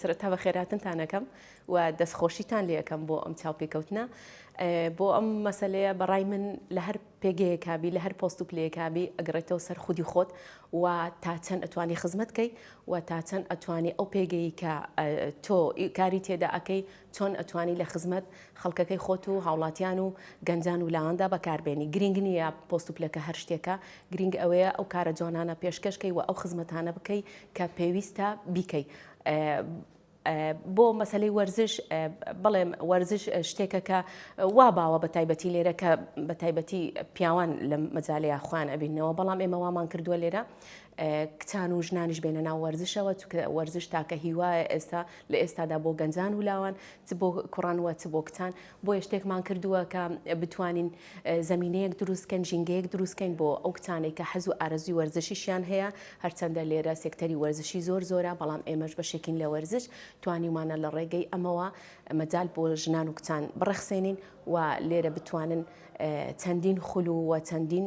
سەرەتا بە خێراتنتان ئەەکەم و دەستخۆشیتان لەکەم بۆ ئەم چاوپێکەوتنە بۆ ئەم مەسلەیە بەڕای من لە هەر پێگەیەکبی لە هەر پۆست و پلەیەکبی ئەگرێتەوە سەر خودی خۆت و تا چەند ئەتوانی خزمەتکەی و تا چەند ئەتوانی ئەو پێگەی کە تۆ کاری تێدا ئەەکەی چۆن ئەتوانی لە خزمەت خەڵکەکەی خۆت و هاوڵاتیان و گەنجان و لاواندا بەکار بێنی گرینگ نییە پۆست و پلەکە هەر شتێکە گرینگ ئەوەیە ئەو کارە جوانانە پێشکەش کەی و ئەو خزمەتانە بکەی کە پێویستە بیکەی بۆ مەسلەی وەرزش بڵێم وەرزش شتێکە کە وا باوە بە تایبەتی لێرە کە بە تایبەتی پیاوان لە مەجاالەیە خوان ئەبینەوە بەڵام ئێمە وامان کردووە لێرە کچان و ژنانیش بێنە ناو وەرزشەوە چکە وەرزش تاکە هیوایە ئێستا لە ئێستادا بۆ گەنجان و لاوان چ بۆ کوڕان وە چ بۆ کچان بۆیە شتێکمان کردووە کە بتوانین زمینەیەک دروستکەن ژینگەیەک دروستکەین بۆ ئەو کچانێک کە حەز و ئارەزوی وەرزشیشیان هەیە هەرچەندە لێرە سێکتەری وەرزشی زۆر زۆرە بەڵام ئێمەش بەشێکین لە وەرزش توانیمانە لە ڕێگەی ئەمەوە مەجال بۆ ژنان و کچان بڕەخسێنین و لێرە بتوانن چەندین خول و چەندین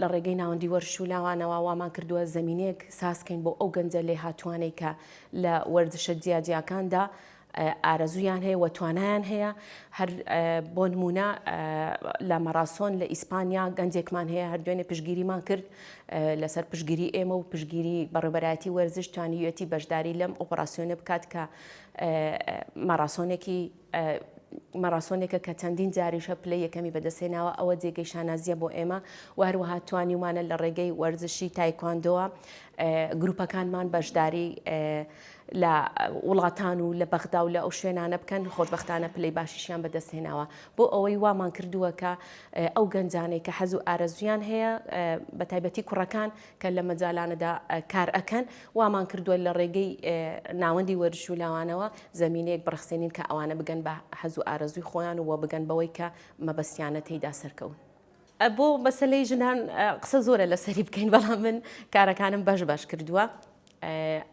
لە ڕێگەی ناوەندی وەرش و لاوانەوە وامان کردووە زەمینەیەک ساز کەین بۆ ئەو گەنجە لێهاتووانەی کە لە وەرزشە جیاجیاکاندا ئارەزوویان هەیە و توانایان هەیە هەر بۆ نمونە لە مەراسۆن لە ئیسپانیا گەنجێکمان هەیە هەر دوێنێ پشگیریمان کرد لەسەر پشگیری ئێمە و پشگیری بەڕێبەرایەتی وەرزش توانیویەتی بەشداری لەم ئۆپەراسسیۆنە بکات کە مەراسۆنێکی ماراسۆنێکە کە چەندین جاریش هە پلەی یەکەمی بەدەستهێناوە ئەوە جێگەی شانازیە بۆ ئێمە و هەروەها توانیومانە لە ڕێگەی وەرزشی تایکواندۆوە گروپەکانمان بەشداری لە وڵاتان و لە بەغدا و لە ئەو شوێنانە بکەن خۆشببختانە پلی باشیشیان بەدەستهێناوە بۆ ئەوەی وامان کردووە کە ئەو گەنجانەی کە حەزو ئارەزویان هەیە بە تایبەتی کوڕەکان کە لە مەجالانەدا کار ئەکەن وامان کردووە لە ڕێگەی ناوەندی وەرش و لاوانەوە زمینەیەک بڕخسێنین کە ئەوانە بگەن بە حەز و ئارەزوی خۆیان و بگەن بەوەی کە مەبەستیانە تێیدا سەرکەون. بۆ مەسەلەی ژنان قسە زۆرە لەسەری بکەین بەڵام من کارەکانم بەش بەش کردووە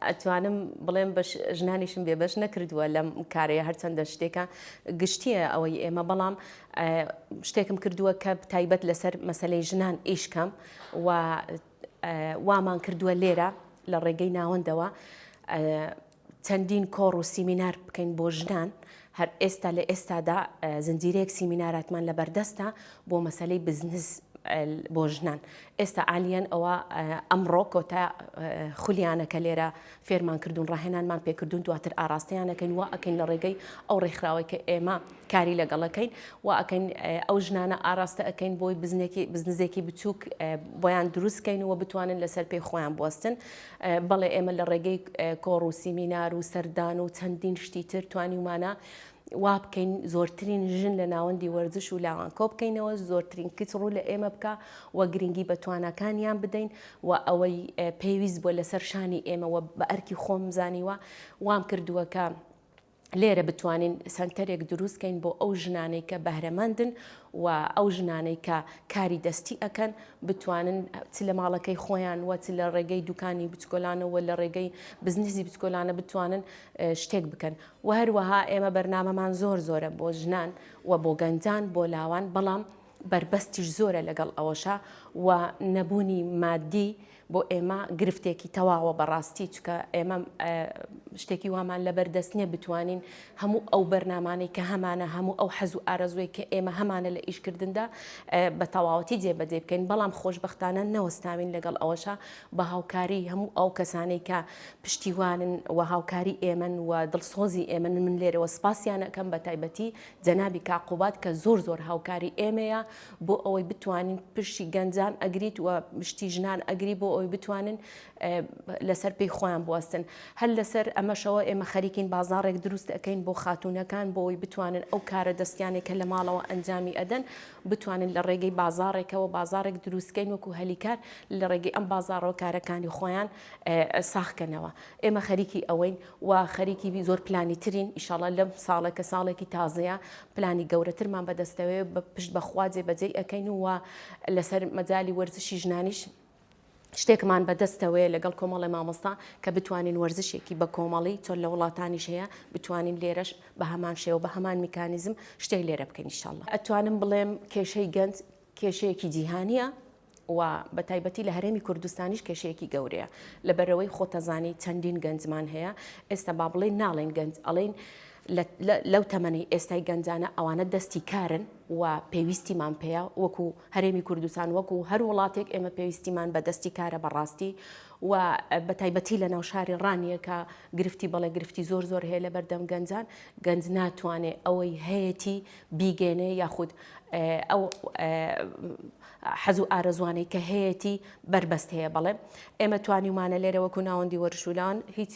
ئەتوانم بڵێم بە ژنانیشم بێ بەش نەکردووە لەم کارەیە هەرچەندە شتێکە گشتیە ئەوەی ئێمە بەڵام شتێکم کردووە کە تایبەت لەسەر مەسلەی ژنان ئیشکەم و وامان کردووە لێرە لە ڕێگەی ناوەندەوە چەندین کۆڕ و سیمینار بکەین بۆ ژنان هەر ئێستا لە ئێستادا زنجیرەیەک سیمیناراتمان لە بەردەستە بۆ مەسەلەی بزنس بۆ ژنان ئێستا ئالیەن ئەوە ئەمڕۆ کۆتا خولیانەکە لێرە فێرمان کردوون ڕاهێنانمان پێکردوون دواتر ئاراستەیانەکەین وا ئەکەین لە ڕێگەی ئەو ڕێکخراوەی کە ئێمە کاری لەگەڵەکەین و ئەکەین ئەو ژنانە ئاراستە ئەەکەین بۆی بزنێکی بزنزێکی بچووک بۆیان دروستکەین و بتوانن لەسەر پێی خۆیان بستن بەڵێ ئێمە لە ڕێگەی کۆڕ و سیمینار و سەردان و چەندین شتی تر توانیومانە وا بکەین زۆرترین ژن لە ناوەندی وەرزش و لاوان کۆ بکەینەوە زۆرترین کچ ڕوو لە ئێمە بکە و گرنگی بە تواناکانیان بدەین و ئەوەی پێویست بووە لەسەر شانی ئێمەوە بە ئەرکی خۆم زانیوە وام کردووە کە لێرە بتوانین سەنتەرێک دروستکەین بۆ ئەو ژنانەی کە بەهرەمەندن و ئەو ژنانەی کە کاری دەستی ئەکەن بتوانن چ لە ماڵەکەی خۆیان و چ لە ڕێگەی دوکانی بچکۆلانەوە لە ڕێگەی بزنسی بچکۆلانە بتوانن شتێک بکەن و هەروەها ئێمە بەرنمەمان زۆر زۆرە بۆ ژنان و بۆ گەنجان بۆ لاوان بەڵام بەربەستیش زۆرە لەگەڵ ئەوەشا و نەبوونی مادی بۆ ئێمە گرفتێکی تەواوە بەڕاستی چکە ئێمە شتێکی وامان لەبەر دەست نیە بتوانین هەموو ئەو بەرنامانەی کە هەمانە هەموو ئەو حەز و ئارەزوی کە ئێمە هەمانە لە ئیشکردندا بە تەواوەتی جێبەجێ بکەین بەڵام خۆشببختانە نەوەستاوین لەگەڵ ئەوەشە بە هاوکاری هەموو ئەو کەسانەی کە پشتیوانن و هاوکاری ئێمن و دڵسۆزی ئێمن من لێرەوە سپاسیانەکەم بە تایبەتی جەنابی کاک قوباد کە زۆر زۆر هاوکاری ئێمەیە بۆ ئەوەی بتوانین پرشی گەنجان ئەگریت و مشتی ژنان ئەگری بۆ ئەوی بتوانن لەسەر پێی خۆیان بوەستن هەر لەسەر ئەمەشەوە ئێمە خەریکین بازارێک دروست ئەەکەین بۆ خاتونەکان بۆ ئەوی بتوانن ئەو کارە دەستیانێک کە لە ماڵەوە ئەنجامی ئەدەن بتوانن لە ڕێگەی بازارێکەوە بازارێک دروستکەین وەکو هەلیکار لە ڕێگەی ئەم بازارەوە کارەکانی خۆیان ساخکەنەوە ئێمە خەریکی ئەوەین و خەریکی زۆر پلانی ترین ئیشاڵا لەم ساڵە کە ساڵێکی تازەیە پلانی گەورەترمان بەدەستەوەیە پشت بەخوا جێ بەجێی ئەکەین و لەسەر مەجای وەرزشی ژنانیش شتێکمان بەدەستەوەیە لەگەڵ کۆمەڵی مامۆستا کە بتوانین وەرزشێکی بە کۆمەڵی چۆن لە وڵاتانیش هەیە بتوانین لێرەش بە هەمان شێوە بە هەمان میکانیزم شتێک لێرە بکەین شله ئەتوانم بڵێم کێشەی گەنج کێشەیەکی جیهانیە و بەتایبەتی لە هەرێمی کوردستانیش کێشەیەکی گەورەیە لەبەرئەوەی خۆتەزانی چەندین گەنجمان هەیە ئێستا با بڵێین ناڵێن گەنج ئەڵێن لەو تەمەنی ئێستای گەنجانە ئەوانە دەستی کارن و پێویستیمان پێەیە وەکو هەرێمی کوردستان وەکو هەر وڵاتێک ئێمە پێویستیمان بە دەستی کارە بەڕاستی و بە تایبەتی لە ناوشاری ڕانیەکە گرفتی بەڵێ گرفتی زۆر زۆر هەیە لە بەردەم گەنجان گەنج ناتوانێت ئەوەی هەیەی بیگەێنێ یاخود ئەو حەز و ئارەزوانەی کە هەیەتی بەربەست هەیە بەڵێ ئێمە توانیومانە لێرە وەکو ناوەندی وەرشولان هیچ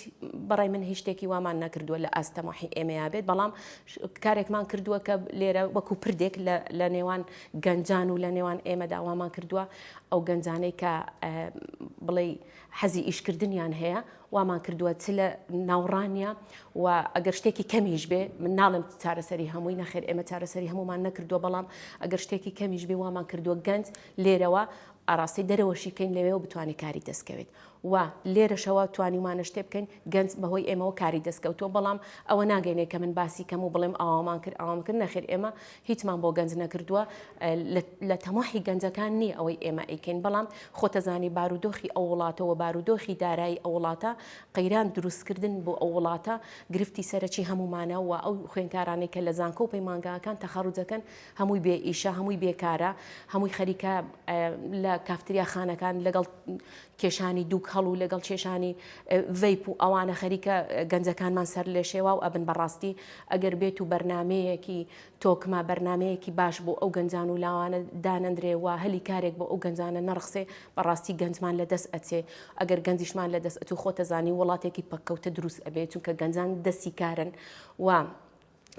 بەڕای من هیچ شتێکی وامان نەکردووە لە ئاست تەماحی ئێمەیا بێت بەڵام کارێکمان کردووە کە لێرە وەکو پردێک لە نێوان گەنجان و لە نێوان ئێمە داوامان کردووە ئەو گەنجانەی کە بڵێ حەزی ئیشکردنیان هەیە وامان کردووە چ لە ناوڕانیە و ئەگەر شتێکی کەمیش بێ من ناڵم چارەسەری هەمووی نەخێر ئێمە چارەسەری هەمومان نەکردووە بەڵام ئەگەر شتێکی کەمیش بێ وامان کردووە گەنج لێرەوە ئاراستەی دەرەوەشی کەین لەوێ و بتوانێت کاری دەستکەوێت و لێرەشەوە توانیمانە شتێ بکەین گەنج بەهۆی ئێمەوە کاری دەستکەوتووە بەڵام ئەوە ناگەینێ کە من باسی کەم و بڵێم ئاوامان کرد ئاوام کرد نەخێر ئێمە هیچمان بۆ گەنج نەکردووە لە تەماحی گەنجەکان نییە ئەوەی ئێمە ئەیکەین بەڵام خۆتەزانی بارودۆخی ئەو وڵاتەوە بارودۆخی دارایی ئەو وڵاتە قەیران دروستکردن بۆ ئەو وڵاتە گرفتی سەرەکی هەمومانە و ئەو خوێنکارانەی کە لە زانکۆ و پەیمانگاکان تەخەڕوجەکەن هەمووی بێ ئیشە هەمووی بێکارە هەمووی خەریکە لە کافتریا خانەکان لەگەڵ کێشانی دوو کەڵ و لەگەڵ کێشانی ڤەیپ و ئەوانە خەریکە گەنجەکانمان سەر لێ شێواو ئەبن بەڕاستی ئەگەر بێت و بەرنمەیەکی تۆکمە بەرنمەیەکی باش بۆ ئەو گەنجان و لاوانە دانەندرێ و هەلی کارێک بۆ ئەو گەنجانە نەڕخسێ بەڕاستی گەنجمان لە دەست ئەچێ ئەگەر گەنجیشمان لە دەست ئەتو خۆتەزانی وڵاتێکی پەککەوتە دروست ئەبێ چونکە گەنجان دەستی کارن و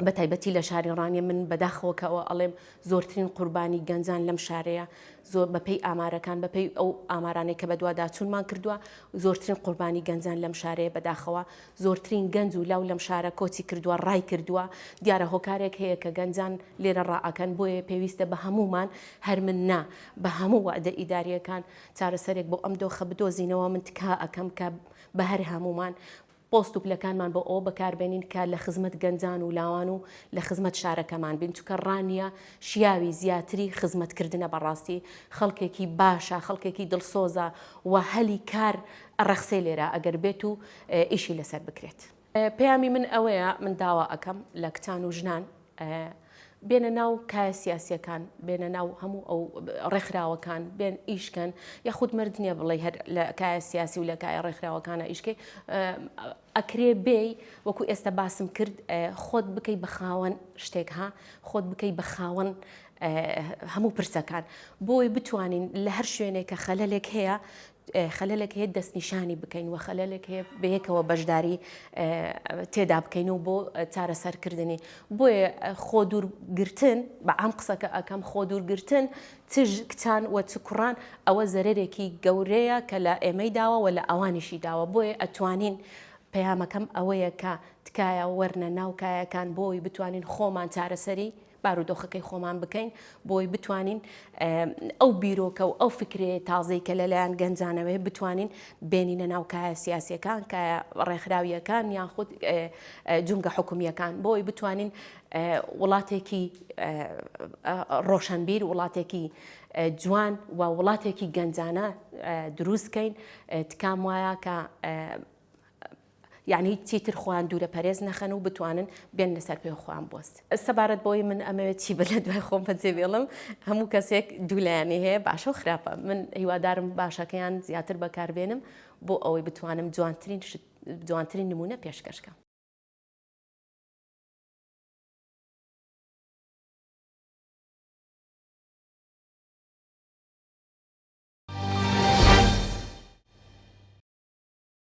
بە تایبەتی لە شاری ڕانیە من بەداخەوەکەەوە ئەڵێم زۆرترین قوربانی گەنجان لەم شارەیە زۆر بەپی ئامارەکان بەپی ئەو ئامارانەی کە بەدوواداچوونمان کردووە زۆرترین قوربانی گەنجان لەم شارەیە بەداخەوە زۆرترین گەنج و لاو لەم شارە کۆچی کردووە ڕای کردووە دیارە هۆکارێک هەیە کە گەنجان لێرە ڕائەکەن بۆیە پێویستە بە هەمومان هەر من نا بە هەموو وادە ئیداریەکان چارەسەرێک بۆ ئەم دۆخە بدۆزینەوە من تکا ئەەکەم کە بە هەر هەمومان پۆست و پلەکانمان بۆ ئەوە بەکار بێنین کە لە خزمەت گەنجان و لاوان و لە خزمەت شارەکەمان بین چونکە ڕانیە شیاوی زیاتری خزمەت کردنە بەڕاستی خەڵکێکی باشە خەڵکێکی دڵسۆزە و هەلی کار ئەڕەخسێ لێرە ئەگەر بێت و ئیشی لەسەر بکرێت. پەیامی من ئەوەیە من داوا ئەکەم لە کچان و ژنان بێنە ناو کایە سیاسیەکان بێنە ناو هەموو ئەو ڕێکخراوەکان بێن ئیشکەن یاخود مرد نییە بڵێ هەر لە کایە سیاسی و لە کایە ڕێکخراوەکانە ئیشکەی ئەکرێ بێ وەکو ئێستا باسم کرد خۆت بکەی بە خاوەن شتێک ها خۆت بکەی بە خاوەن هەموو پرسەکان بۆی بتوانین لە هەر شوێنێک کە خەلەلێک هەیە خەلەلێک هەیە دەستنیشانی بکەین و خەلەلێک هەیە بەیەکەوە بەشداری تێدا بکەین و بۆ چارەسەرکردنی بۆیە خۆ دوورگرتن بە عام قسەکە ئەکەم خۆ دوورگرتن تژ کچان و چ کوڕان ئەوە زەرەرێکی گەورەیە کە لە ئێمەی داوە و لە ئەوانیشی داوە بۆیە ئەتوانین پەیامەکەم ئەوەیە کە تکایە وەرنە ناو کایەکان بۆی بتوانین خۆمان چارەسەری بارودۆخەکەی خۆمان بکەین بۆی بتوانین ئەو بیرۆکە و ئەو فکرێ تازەی کە لەلایەن گەنجانەوەی بتوانین بێنینە ناو کایە سیاسەکان کە ڕێکخراویەکان یان خود جونگە حکومیەکان بۆی بتوانین وڵاتێکی ڕۆشنبیر وڵاتێکی جوان و وڵاتێکی گەنجانە دروستکەین تکام وایە کە یەعنی چیتر خۆیان دوورە پەرێز نەخەن و بتوانن بێننە سەر پێ و خۆیان بۆست. سەبارەت بەوەی من ئەمەوێت چی بە لە دوای خۆم بەجێ بێڵم، هەموو کەسێک دوو لایەنی هەیە باشە و خراپە، من هیوادارم باشەکەیان زیاتر بەکار بێنم بۆ ئەوەی بتوانم جوانترین شت، جوانترین نموونە پێشکەش کەم.